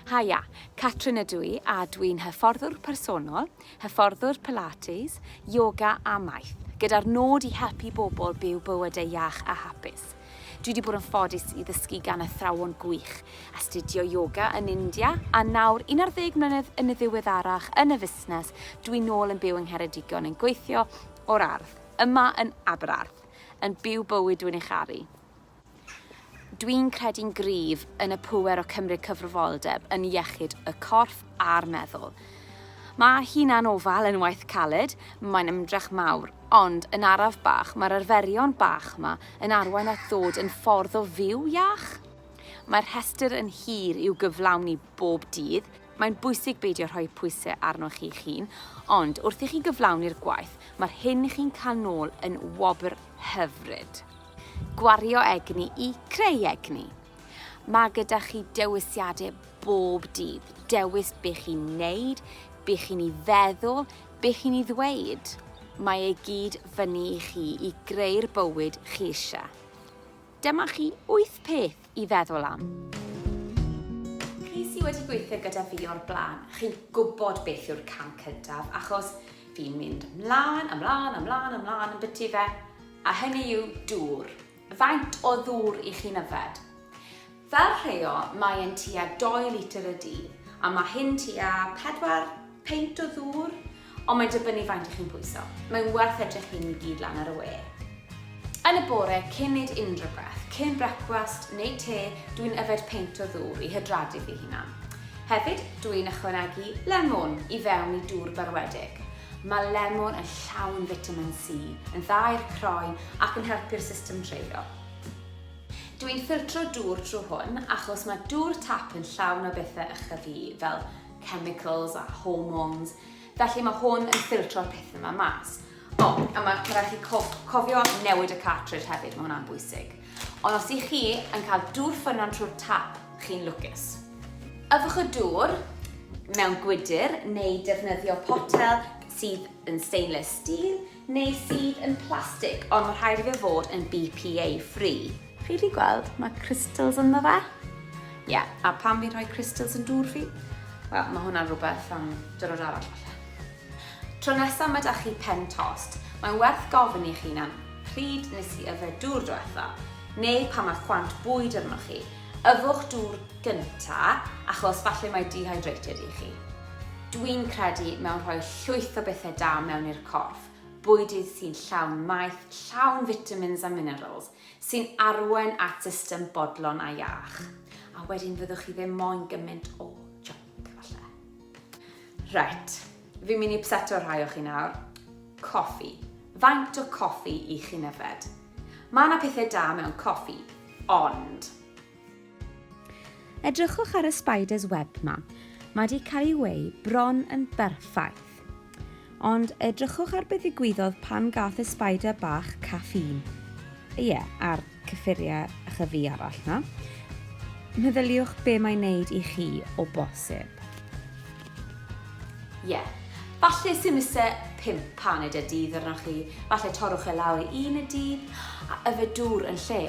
Haia, Catrin ydw i a dwi'n hyfforddwr personol, hyfforddwr Pilates, yoga a maeth, gyda'r nod i helpu bobl byw bywydau iach a hapus. Dwi wedi bod yn ffodus i ddysgu gan athrawon gwych, astudio yoga yn India, a nawr, 11 mlynedd yn y ddiweddarach yn y fusnes, dwi nôl yn byw yng Ngheredigion yn gweithio o'r ardd, yma yn Aberarth, yn byw bywyd dwi'n ei charu. Dwi'n credu'n gryf yn y pŵer o cymryd cyfrifoldeb yn iechyd y corff a'r meddwl. Mae hunan ofal yn waith caled, mae'n ymdrech mawr, ond yn araf bach mae'r arferion bach yma yn arwain at ddod yn ffordd o fyw iach? Mae'r rhestr yn hir i'w gyflawni bob dydd, mae'n bwysig beidio rhoi pwysau arnoch chi'ch hun, ond wrth i chi gyflawni'r gwaith, mae'r hyn chi'n cael nôl yn wobr hyfryd. Gwario egni i creu egni. Mae gyda chi dewisiadau bob dydd, dewis be chi'n neud, be chi'n ei feddwl, Be chi'n i ddweud? Mae e gyd fyny i chi i greu'r bywyd chi eisiau. Dyma chi wyth peth i feddwl am. Chi sydd wedi gweithio gyda fi o'r blaen, chi'n gwybod beth yw'r cam cyntaf, achos fi'n mynd ymlaen, ymlaen, ymlaen, ymlaen yn byty fe, a hynny yw dŵr. Faint o ddŵr i chi'n yfed? Fel rheol mae e'n tua dou litr y dydd a mae hyn tua pedwar peint o ddŵr ond mae'n dibynnu faint i chi'n pwyso. Mae'n werth edrych hyn i gyd lan ar y we. Yn y bore cyn neud unrhyw beth, cyn brecwast neu te, dwi'n yfed peint o ddŵr i hydradu fy hunan. Hefyd, dwi'n ychwanegu lemwn i fewn i dŵr berwedig. Mae lemon yn llawn fitamin C, yn dda i'r croen ac yn helpu'r system dreulio. Dw i'n ffiltro dŵr trwy hwn achos mae dŵr tap yn llawn o bethau ychydig i, fel chemicals a hormones, felly mae hwn yn ffiltro'r pethau yma mas. O, a mae rhaid chi cof cofio newid y cartridge hefyd, mae hwnna'n bwysig. Ond os ych chi yn cael dŵr ffynnon trwy'r tap, chi'n lwcus. Yfwch y dŵr mewn gwydr neu defnyddio potel sydd yn stainless steel neu sydd yn plastig, ond mae rhaid i fe fod yn BPA free. Chi wedi gweld, mae crystals ynddo fe. Ie, yeah, a pan fi'n rhoi crystals yn dŵr fi, wel, mae hwnna'n rhywbeth am dyrod arall falle. Tro nesa ma da chi pen tost, mae'n werth gofyn i'ch hunan, pryd nes i yfed dŵr dwetha? Neu pan ma chwant bwyd arnoch chi, yfwch dŵr gynta achos falle mae dehydrated i chi. Dwi'n credu mewn rhoi llwyth o bethe da mewn i'r corff, bwydydd sy'n llawn maeth, llawn vitamins a minerals, sy'n arwain at system bodlon a iach. A wedyn fyddwch chi ddim moyn gymint o junk falle. Reit, fi'n mynd i ypseto rhai o chi nawr. Coffi. Faint o coffi i chi'n yfed? Mae yna pethau da mewn coffi, ond... Edrychwch ar y spider's web ma. Mae wedi cael ei weu bron yn berffaith. Ond edrychwch ar beth ddigwyddodd pan gath y spider bach caffîn. Ie, yeah, ar cyffuriau a chyfu arall na. Meddyliwch be mae'n neud i chi o bosib. Ie. Yeah. Falle sy'n ise pimp paned y dydd arnoch chi, falle torwch e lawr i un y dydd a yfed dŵr yn lle.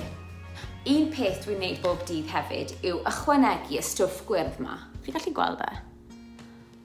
Un peth dwi'n neud bob dydd hefyd yw ychwanegu y stwff gwyrdd ma. Fi gallu gweld e?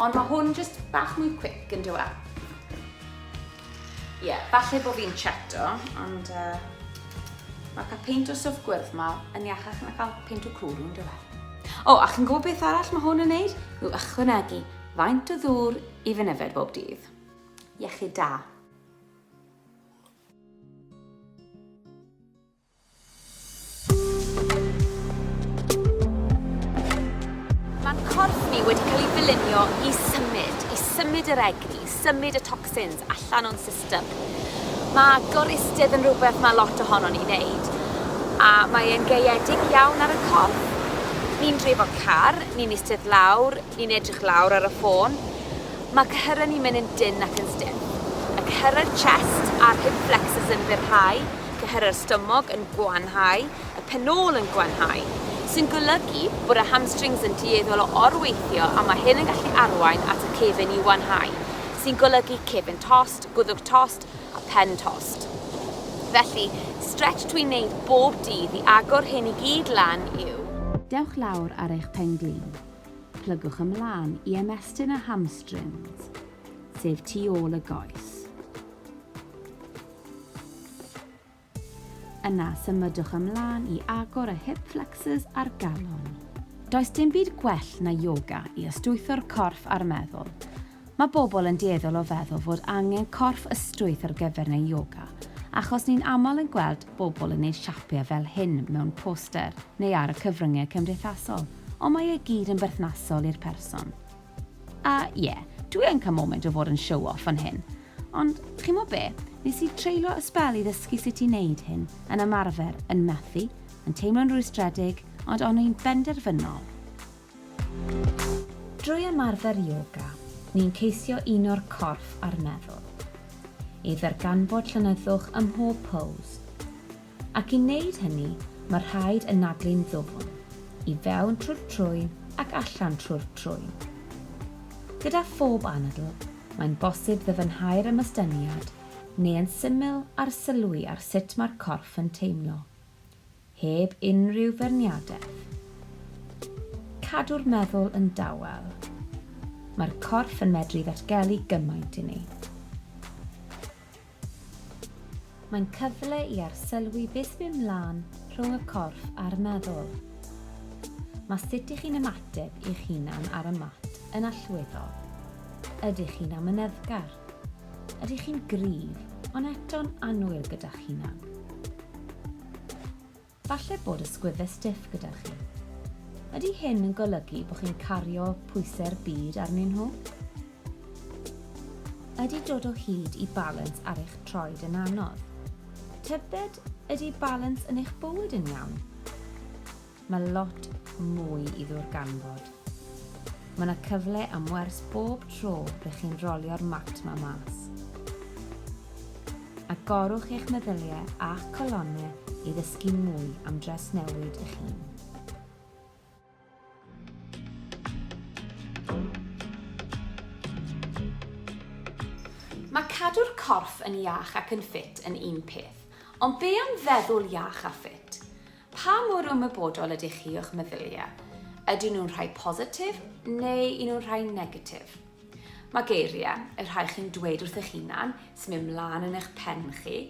Ond mae hwn jyst bach mwy quick yn dywa. Ie, yeah, falle bod fi'n cheto, ond uh, mae cael peint o swff gwyrdd ma yn iachach na cael peint o cwrw yn dywa. O, a chi'n gwybod beth arall mae hwn yn neud? Yw ychwanegu faint o ddŵr i fy nyfed bob dydd. Iechyd da. Mae'n corff ni wedi cael ei ddylunio i symud, i symud yr egni, symud y toxins allan o'n system. Mae goristed yn rhywbeth mae lot ohono ni wneud, a mae e'n gaeedig iawn ar y corff. Ni'n drefo car, ni'n eistedd lawr, ni'n edrych lawr ar y ffôn. Mae cyhyrau ni'n mynd yn dyn ac yn stiff. Y cyhyrau chest a'r hip flexors yn fyrhau, cyhyrau'r stumog yn gwanhau, y penôl yn gwanhau, sy'n golygu bod y hamstrings yn dueddol o orweithio a mae hyn yn gallu arwain at y cefn i wanhau, sy'n golygu cefn tost, gwddwg tost a phen tost. Felly, stretch dwi'n wneud bob dydd i agor hyn i gyd lan yw. Dewch lawr ar eich pen-glin. Plygwch ymlaen i ymestyn y hamstrings, sef tu ôl y goes. Yna, symudwch ymlaen i agor y hip flexors a'r galon. Does dim byd gwell na yoga i ystwytho'r corff a'r meddwl. Mae bobl yn dueddol o feddwl fod angen corff ystwyth ar gyfer neu yoga, achos ni'n aml yn gweld bobl yn neud siapiau fel hyn mewn poster neu ar y cyfryngau cymdeithasol, ond mae e gyd yn berthnasol i'r person. A ie, dwi yn cael moment o fod yn show off fan hyn. Ond, chimo be, nes i treulio y sbel i ddysgu sut i neud hyn, yn ymarfer, yn methu, yn teimlo'n rwystredig, ond o'n i'n benderfynol. Drwy ymarfer ioga, ni'n ceisio uno'r corff a'r meddwl. I ddarganfod llonyddwch ym mhob pose. Ac i wneud hynny, mae rhaid anadlu'n ddwfn, i fewn trwy'r trwyn ac allan trwy'r trwyn. Gyda phob anadl, mae'n bosib ddyfnhau'r ymystyniad, neu yn syml arsylwi ar sut mae'r corff yn teimlo, heb unrhyw feirniadaeth. Cadw'r meddwl yn dawel. Mae'r corff yn medru ddatgelu gymaint i ni. Mae'n cyfle i arsylwi beth sy'n mynd mlaen rhwng y corff a'r meddwl. Mae sut i chi'n ymateb i'ch hunan ar y mat yn allweddol. Ydych chi'n amyneddgar? Ydych chi'n gryf ond eto'n annwyl gyda'ch hunan? Falle bod ysgwyddau stiff gyda chi. Ydy hyn yn golygu bod chi'n cario pwysau'r byd arnyn nhw? Ydy dod o hyd i balans ar eich troed yn anodd? Tybed ydy balans yn eich bywyd yn iawn? Mae lot mwy i ddwrganfod. Mae 'na cyfle am wers bob tro rych chi'n rolio'r mat 'ma mas. Agorwch eich meddyliau a'ch colonne i ddysgu mwy am dresnewid eich hun. Mae cadw'r corff yn iach ac yn ffit yn un peth, ond be am feddwl iach a ffit? Pa mor ymwybodol ydych chi o'ch meddyliau? Ydyn nhw'n rhai positif neu un nhw'n rhai negatif? Mae geiriau, y rhai chi'n dweud wrth eich hunan, sy'n mynd mlaen yn eich pen chi,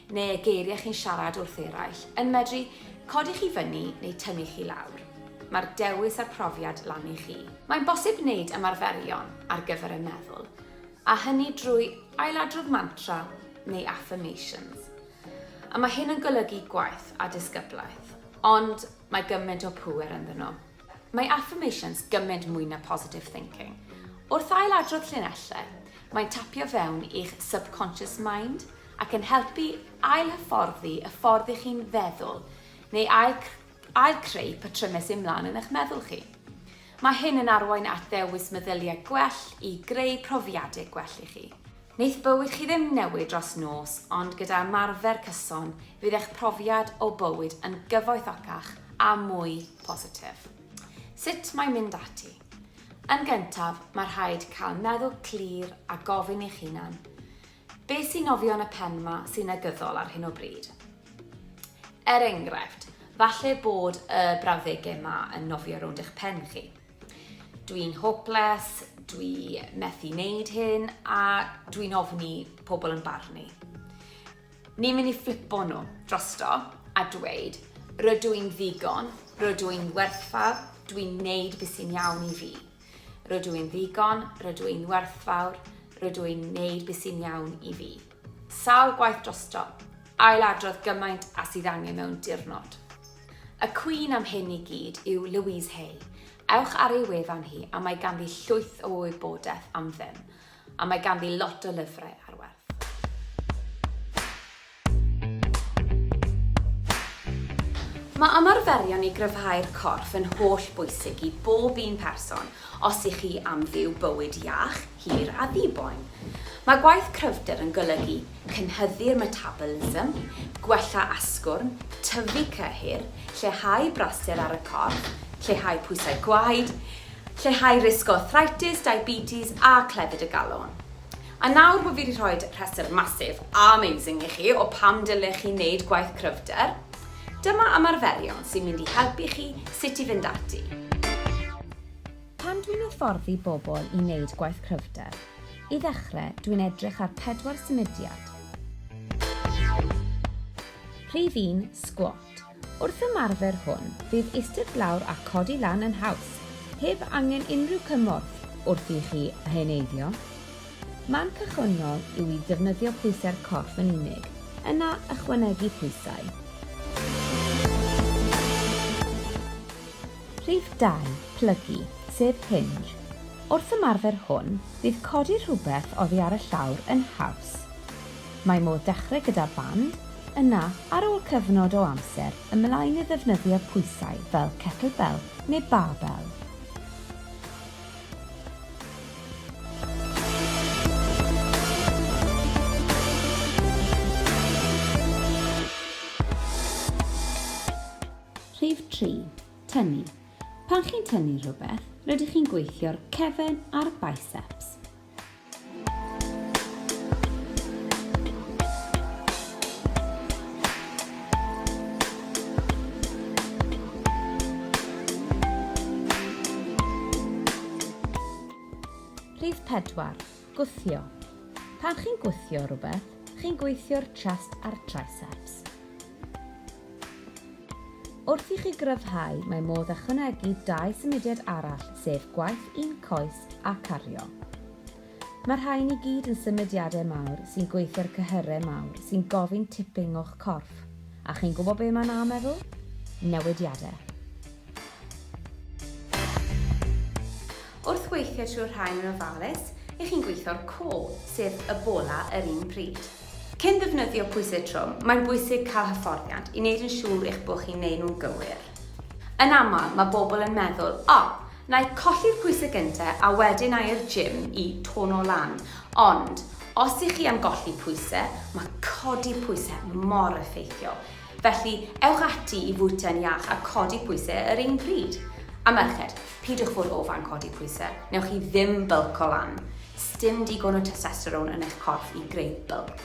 neu y geiriau chi'n siarad wrth eraill, yn medru codi chi fyny neu tynnu chi lawr. Mae'r dewis a'r profiad lan i chi. Mae'n bosib wneud ymarferion ar gyfer y meddwl, a hynny drwy ailadrodd mantra neu affirmations. A mae hyn yn golygu gwaith a disgyblaeth, ond mae gymaint o pŵer ynddyn nhw. Mae affirmations gymaint mwy na positive thinking. Wrth ail-adrodd llinellau, mae'n tapio fewn i'ch subconscious mind ac yn helpu ail-hyfforddi y ffordd i chi'n feddwl neu ail, ail creu patrymau sy'n mlaen yn eich meddwl chi. Mae hyn yn arwain at ddewis meddyliau gwell i greu profiadau gwell i chi. Neith bywyd chi ddim newid dros nos ond gyda ymarfer cyson bydd eich profiad o bywyd yn gyfoethocach a mwy positif. Sut mae mynd ati? Yn gyntaf, mae rhaid cael meddwl clir a gofyn i'ch hunan, beth sy'n nofio yn y pen ma sy'n negyddol ar hyn o bryd? Er enghraifft, falle bod y brawddegau ma yn nofio rownd eich pen chi. dwi'n hopeless, dwi methu wneud hyn, a dwi'n ofni pobl yn barnu. Ni'n mynd i flipo nhw drosto a dweud, rydw i'n ddigon, rydw i'n werthfawr, dwi'n neud beth sy'n iawn i fi. Rydw i'n ddigon, rydw i'n werthfawr, rydw i'n neud beth sy'n iawn i fi. Sawl gwaith drosto, ailadrodd gymaint a sydd angen mewn diwrnod. Y cwîn am hyn i gyd yw Louise Hay. Ewch ar ei wefan hi a mae ganddi llwyth o wybodaeth am ddim, a mae ganddi lot o lyfrau ar werth. Mae ymarferion i gryfhau'r corff yn holl bwysig i bob un person os i chi am fyw bywyd iach, hir a ddi-boen. Mae gwaith cryfder yn golygu cynhyddu'r metabolism, gwella asgwrn, tyfu cyhyr, lleihau brasur ar y corff, lleihau pwysau gwaed, lleihau risg o arthritis, diabetes a clefyd y galon. A nawr bo fi 'di rhoi rhestr massive a amazing i chi o pam dylech chi wneud gwaith cryfder, dyma ymarferion sy'n mynd i helpu chi sut i fynd ati. Pan dwi'n hyfforddi bobl i wneud gwaith cryfder, i ddechrau, dwi'n edrych ar pedwar symudiad. Rhif un, sgwot. Wrth ymarfer hwn, fydd istedd lawr a codi lan yn haws, heb angen unrhyw cymorth wrth i chi heneiddio. Man cychwynnol yw i ddefnyddio pwysau'r corff yn unig, yna ychwanegu pwysau. Rhif 2, plygu, sef hinge. Wrth ymarfer hwn, bydd codi rhywbeth oddi ar y llawr yn haws. Mae modd dechrau gyda band, yna, ar ôl cyfnod o amser, ymlaen i ddefnyddio pwysau fel kettlebell neu barbell. Rhif tri, tynnu. Pan chi'n tynnu rhywbeth, rydych chi'n gweithio'r cefn a'r biceps. Rhif pedwar, Gwthio. Pan chi'n gwthio rhywbeth, chi'n gweithio'r chest a'r triceps. Wrth i chi gryfhau, mae modd ychwanegu dau symudiad arall, sef gwaith un coes a cario. Mae'r rhain i gyd yn symudiadau mawr sy'n gweithio'r cyhyrau mawr sy'n gofyn tipping o'ch corff. A chi'n gwybod be mae'n a meddwl? Newidiadau. Wrth weithio trwy'r rhain yn ofalus, y'ch chi'n gweithio'r core, sef y bola yr un pryd. Cyn defnyddio pwysedd trwm, mae'n bwysig cael hyfforddiant i wneud yn siŵr eich bod chi'n neud nhw'n gywir. Yn aml, mae bobl yn meddwl, O, na i colli'r pwysedd gyntaf a wedyn na i'r gym i tono lan. Ond, os y'ch chi am golli pwysau, mae codi pwysau mor effeithiol. Felly, ewch ati i fwyta'n iach a codi pwysau yr un pryd. A merched, Peidiwch fod o fan codi pwyse, newch chi ddim bylco lan. Sdim digon o testosterone yn eich corff i greu bylc.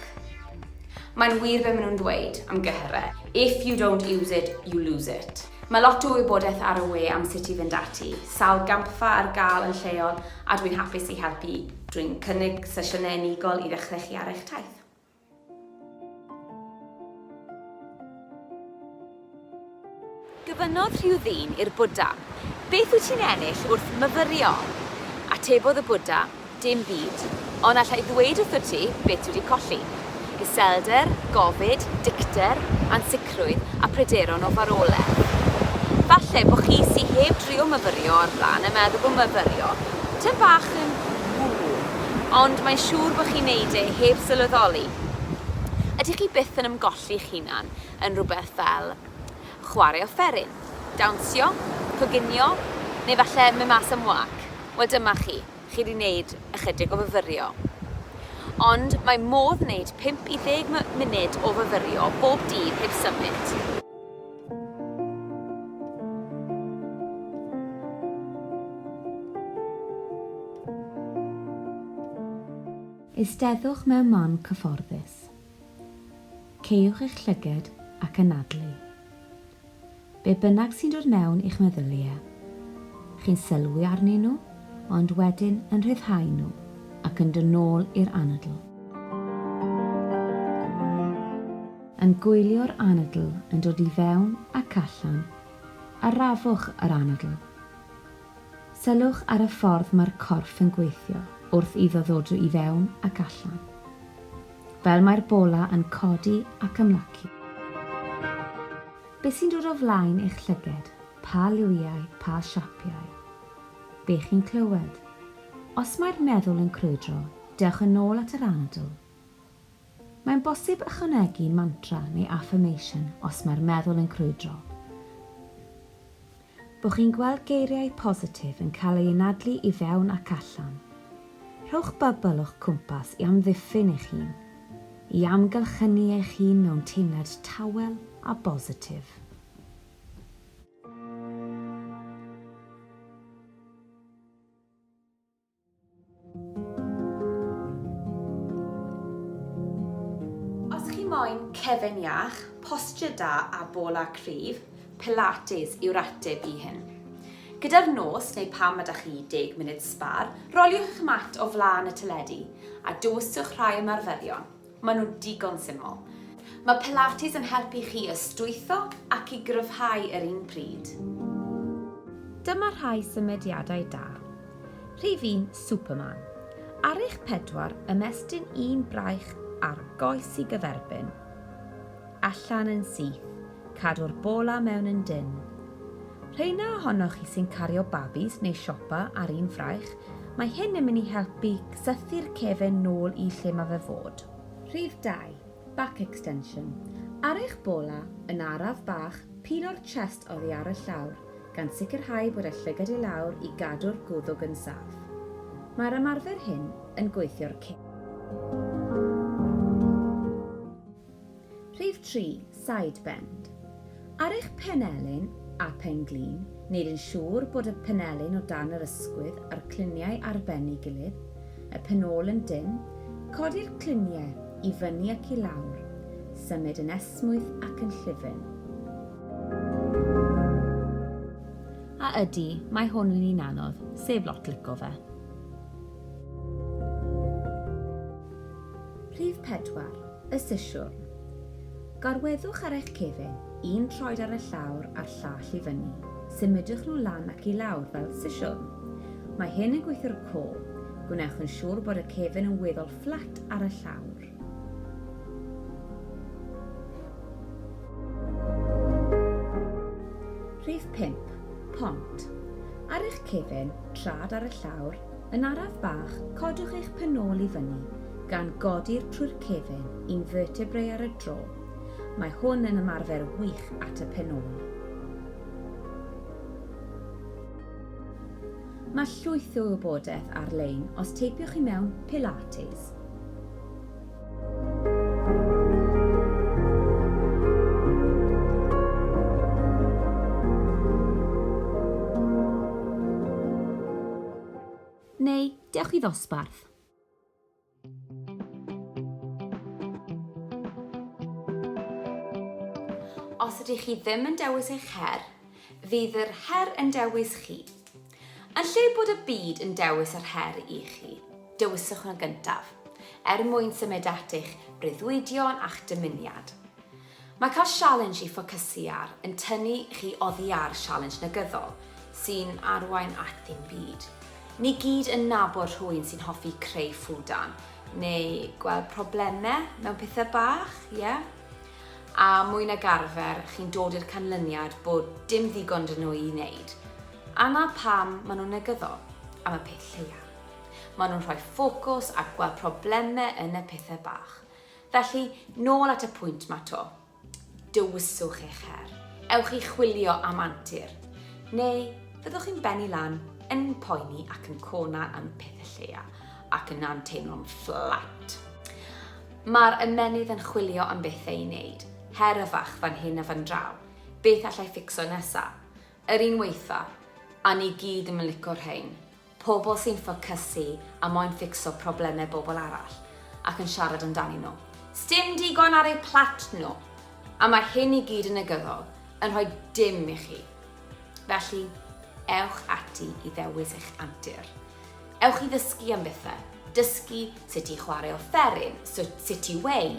Mae'n wir be maen nhw'n ddweud am gyhyre, if you don't use it, you lose it. Mae lot o wybodaeth ar y we am sut i fynd ati, sawl gampfa ar gael yn lleol a dwi'n hapus i helpu drwy'n cynnig sesiynau unigol i ddechrau chi ar eich taith. Gofynnodd rhyw ddyn i'r Bwdha, Beth wyt ti'n ennill wrth myfyrio? Atebodd y Bwdha, Dim byd, ond alla i ddweud wrtho ti beth dwi wedi colli, iselder, gofid, dicter, ansicrwydd, sicrwydd a pryderon o farwolaeth. Falle bo chi sy heb drio myfyrio o'r blaen yn meddwl bo myfyrio tym bach yn ww, ond mae'n siŵr bo chi'n neud e heb sylweddoli. Ydych chi byth yn ymgolli'ch hunan yn rhywbeth fel chware offeryn, dawnsio, coginio, neu falle mynd mas am wâc? Wel dyma chi. chi 'di neud ychydig o fyfyrio. Ond mae modd neud 5 i 10 my- munud o fyfyrio bob dydd heb symud. Eisteddwch mewn man cyfforddus. Caewch eich llyged ac anadlu. Be bynnag sy'n dod mewn i'ch meddyliau, chi'n sylwi arnyn nhw, ond wedyn yn rhyddhau nhw ac yn dod nôl i'r anadl. Yn gwylio'r anadl yn dod i fewn ac allan, arafwch yr anadl. Sylwch ar y ffordd mae'r corff yn gweithio wrth iddo ddod i fewn ac allan. Fel mae'r bola yn codi ac ymlacu. Beth sy'n dod o flaen eich llyged, pa liwiau, pa siapiau. Be chi'n clywed. Os mae'r meddwl yn crwydro, dewch yn ôl at yr anadl. Mae'n bosib ychwanegu mantra neu affirmation os mae'r meddwl yn crwydro. Bo chi'n gweld geiriau positif yn cael eu anadlu i fewn ac allan. Rhowch bybl o'ch cwmpas i amddiffyn eich hun, i amgylchynu eich hun mewn teimlad tawel a bositif. Os chi moyn cefen iach, posture da a bola cryf, Pilates yw'r ateb i hyn. Gyda'r nos neu pam ma da chi 10 munud sbâr, roliwch eich mat o flaen y teledu a dewiswch rhai ymarferion. Maen nhw'n digon syml. Mae Pilates yn helpu chi ystwytho ac i gryfhau yr un pryd. Dyma rhai symudiadau da. Rhif un, Superman. Ar eich pedwar, ymestyn un braich ar goes i gyferbyn. Allan yn syth, cadw'r bola mewn yn dynn. Rheina ohonoch chi sy'n cario babis neu siopa ar un fraich, Mae hyn yn mynd i helpu cysythu'r cefn nôl i lle mae fe fod. Rhif 2, Back Extension. Ar eich bola, yn araf bach, pilo'r chest oddi ar y llawr, gan sicrhau bod y llygad i lawr i gadw'r gwddwg yn saff. Mae'r ymarfer hyn yn gweithio'r cyn. Rhif tri, side bend. Ar eich penelin a phen-glin, wneud yn siŵr bod y penelin o dan yr ysgwydd a'r cliniau ar ben ei gilydd, y penôl yn dynn, codi'r cliniau i fyny ac i lawr, symud yn esmwyth ac yn llyfn. A ydy, mae hwn yn un anodd, sef lot lico fe. Rhif 4, y sisiwrn. Gorweddwch ar eich cefn, un troed ar y llawr a'r llall i fyny. Symudwch nhw lan ac i lawr fel sisiwrn. Mae hyn yn gweithio'r clo. Gwnewch yn siŵr bod y cefn yn weddol fflat ar y llawr. Rhif 5, Pont. Ar eich cefn, trad ar y llawr, yn araf bach, codwch eich pen ôl i fyny, gan godi'r trwy'r cefn, un vertebrae ar y tro. Mae hwn yn ymarfer wych at y pen ôl. Mae llwyth o wybodaeth ar-lein os teipiwch i mewn Pilates. Neu, dewch i ddosbarth. Os ydych chi ddim yn dewis eich her, fydd yr her yn dewis chi. Yn lle bod y byd yn dewis yr her i chi, dewiswch yn gyntaf, er mwyn symud at eich breuddwydion a'ch dymuniad. Mae cael sialens i ffocysu ar yn tynnu chi oddi ar sialens negyddol sy'n arwain at ddim byd. Ni gyd yn nabod rhywun sy'n hoffi creu ffwdan neu gweld problemau mewn pethau bach, ie? Yeah? A mwy nag arfer, chi'n dod i'r canlyniad bod dim ddigon dyn nhw i wneud. A 'na pam maen nhw'n negyddol, am y peth lleia. Maen nhw'n rhoi ffocws a gweld problemau yn y pethau bach. Felly, nôl at y pwynt 'ma 'to. Dewiswch eich her. Ewch i chwilio am antur. Neu, fyddwch chi'n bennu lan, yn poeni ac yn cona am y pethau lleia, ac yna'n teimlo'n fflat. Mae'r ymennydd yn chwilio am bethau i wneud, her y fach fan hyn a fan draw. Beth allai ffficso nesa? Yr un weitha. A ni gyd i'm yn lico rhein. Pobl sy'n ffocysu a moyn ffixo problemau bobl arall ac yn siarad amdanyn nhw. Sdim digon ar eu plat nhw. A mae hyn i gyd yn negyddol, yn rhoi dim i chi. Felly, ewch ati i ddewis eich antur. Ewch i ddysgu am bethau. Dysgu sut i chwarae offeryn, sut i weu.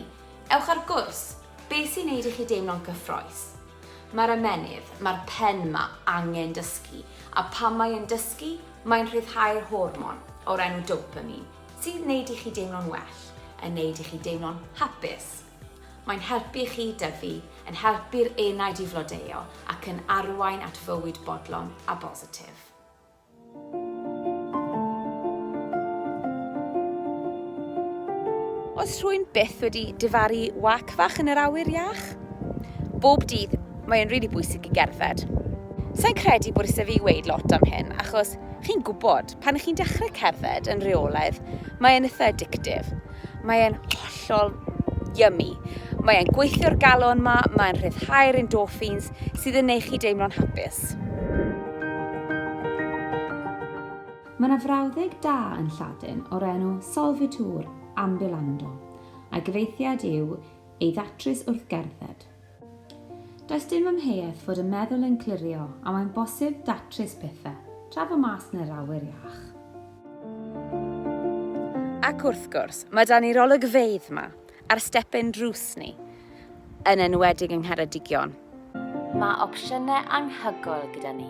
Ewch ar gwrs. Be sy'n neud i chi deimlo'n gyffroes? Mae'r ymennydd, mae'r pen 'ma angen dysgu, a phan mae yn dysgu, mae'n rhyddhau'r hormon o'r enw dopamine, sy'n gwneud i chi deimlo'n well, yn gwneud i chi deimlo'n hapus. Mae'n helpu chi dyfu, yn helpu'r enaid i flodeuo ac yn arwain at fywyd bodlon a bositif. Oes rhywun byth wedi difaru wac fach yn yr awyr iach? Bob dydd, mae'n rili bwysig i gerdded. Sa'n credu bod isie fi weud lot am hyn, achos chi'n gwybod, pan chi'n dechrau cerdded yn reolaidd, mae e'n itha' addictive. Mae e'n hollol yummy. Mae e'n gweithio'r galon ma, mae'n rhyddhau'r endorphins sydd yn neud chi deimlo'n hapus. Mae yna frawddeg da yn Lladin o'r enw solvitur ambulando, a'i gyfeithiad yw ei ddatrys wrth gerdded. Does dim amheuaeth fod y meddwl yn clirio a mae'n bosib datrys pethau, tra bo mas yn yr awyr iach. Ac wrth gwrs, mae 'da ni'r olygfeydd 'ma, ar step ein drws ni, yn enwedig yng Ngheredigion. Mae opsiynau anhygoel gyda ni.